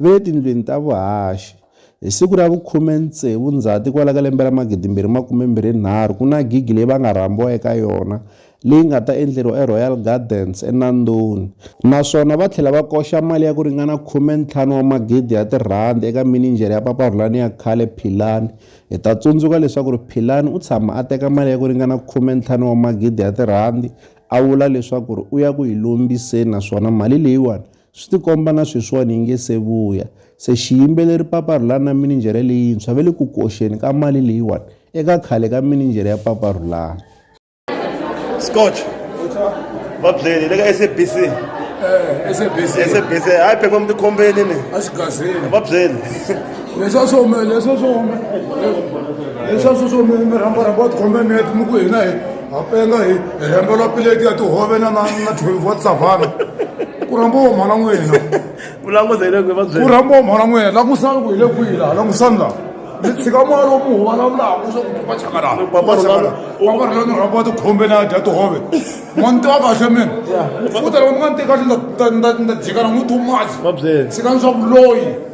ve le tindlwini ta vuhaxi. Hi siku ra vu khume ntsevu Ndzhati kwala ka lembe ra magidi mbirhi makume mbirhi nharhu ku na gigi leyi va nga rhambiwa eka yona leyi nga ta endleriwa eRoyal Gardens eNandoni naswona va tlhela va koxa mali ya ku ringana khume ntlhanu wa magidi ya tirhandi eka mininjhere ya Papa Rhulani ya khale Philani. Hi ta tsundzuka leswaku ri Philani u tshama a teka mali ya ku ringana khume ntlhanu wa magidi ya tirhandi a vula leswaku ri u ya ku yi lombiseni naswona mali leyiwani Swi tikomba na sweswiwani hi nge se vuya. Se xiyimbeleri Paparhula na mininjhere leyintshwa va le ku koxeni ka mali leyiwani eka khale ka mininjhere ya Paparhulani. Scotch va byeli le ka SABC Eh, SABC. SABC hayi phepha mi tikhombeni ni A swi gazeli. va byeli Leswa swo me, leswa swo me. Leswa swo swo me, mi rhamba rhamba u tikhomba mi ya mi ku hina hi ha penga hi hi rhembela pileti ya tihove na na na 12 wa savana ku rhamba wo mhana n'wina ku languta yile kwihi va byela ku rhamba wo mhana n'wina langusani ku hi le kwihi laha langusani laha mi tshika moya lowu mi huvalavulaka swa ku va chaka laha Papa va chaka laha Rhulani- papa rhulani ni rhamba tikhombe na dya tihove ma ni tiva kahle mina u ta loko mi nga ni teki kahle ni ta- ni ta- ni ta jika na n'wi tumazi va byela tshikani swa vuloyi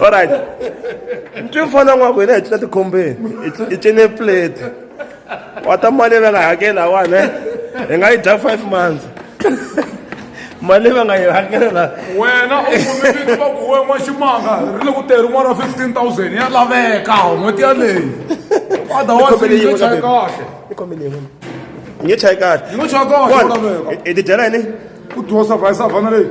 olright ntwi mfana n'wa ku hina hi cina tikhombeni hi cine plate wa ta mali leyi va nga hakela wani eh? hi nga yi dya five months mali va nga yi hakelela wena u kumekile va ku we n'waximanga ri le ku tirhi n'wana fifteen thousand ya laveka n'hweti yaleyi otherwisengechayi kahle ngechayi kahle ngechayi kahle hi tidyela yini ku dyosa vayisavhana leyi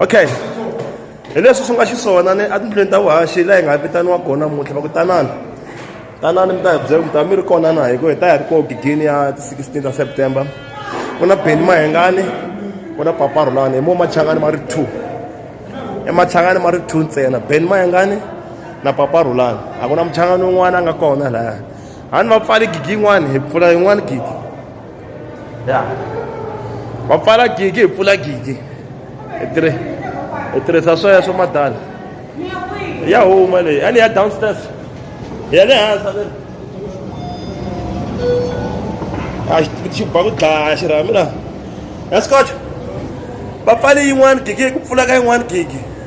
okay hi leswi swi nga xiswona ni etindlwini ta vuhaxi laha hi nga vitaniwa kona muntlha va ku tanana tanani mi ta hi byela mi ta mi ri kona na hi ku hi ta hi ri koho gigini ya ti-sixteen ta september ku na beni mahengani ku na paparhulani hi mo machangani ma ri two emachangani ma ri two ntsena beni mahengani na paparhulani a ku na muchangani un'wana a nga kona laya a ni va pfali gigi yin'wana hi pfula yin'wana gigi ya va pfala gigi hi pfula gigi hi tirhi hi tirhisa swoya swo madala ya huma leyi a ni ya downstairs ya le hansi le a xi xi ba ku dlaya xirhami la ya scotch va pfale yin'wani gigi ku pfula ka yin'wani gigi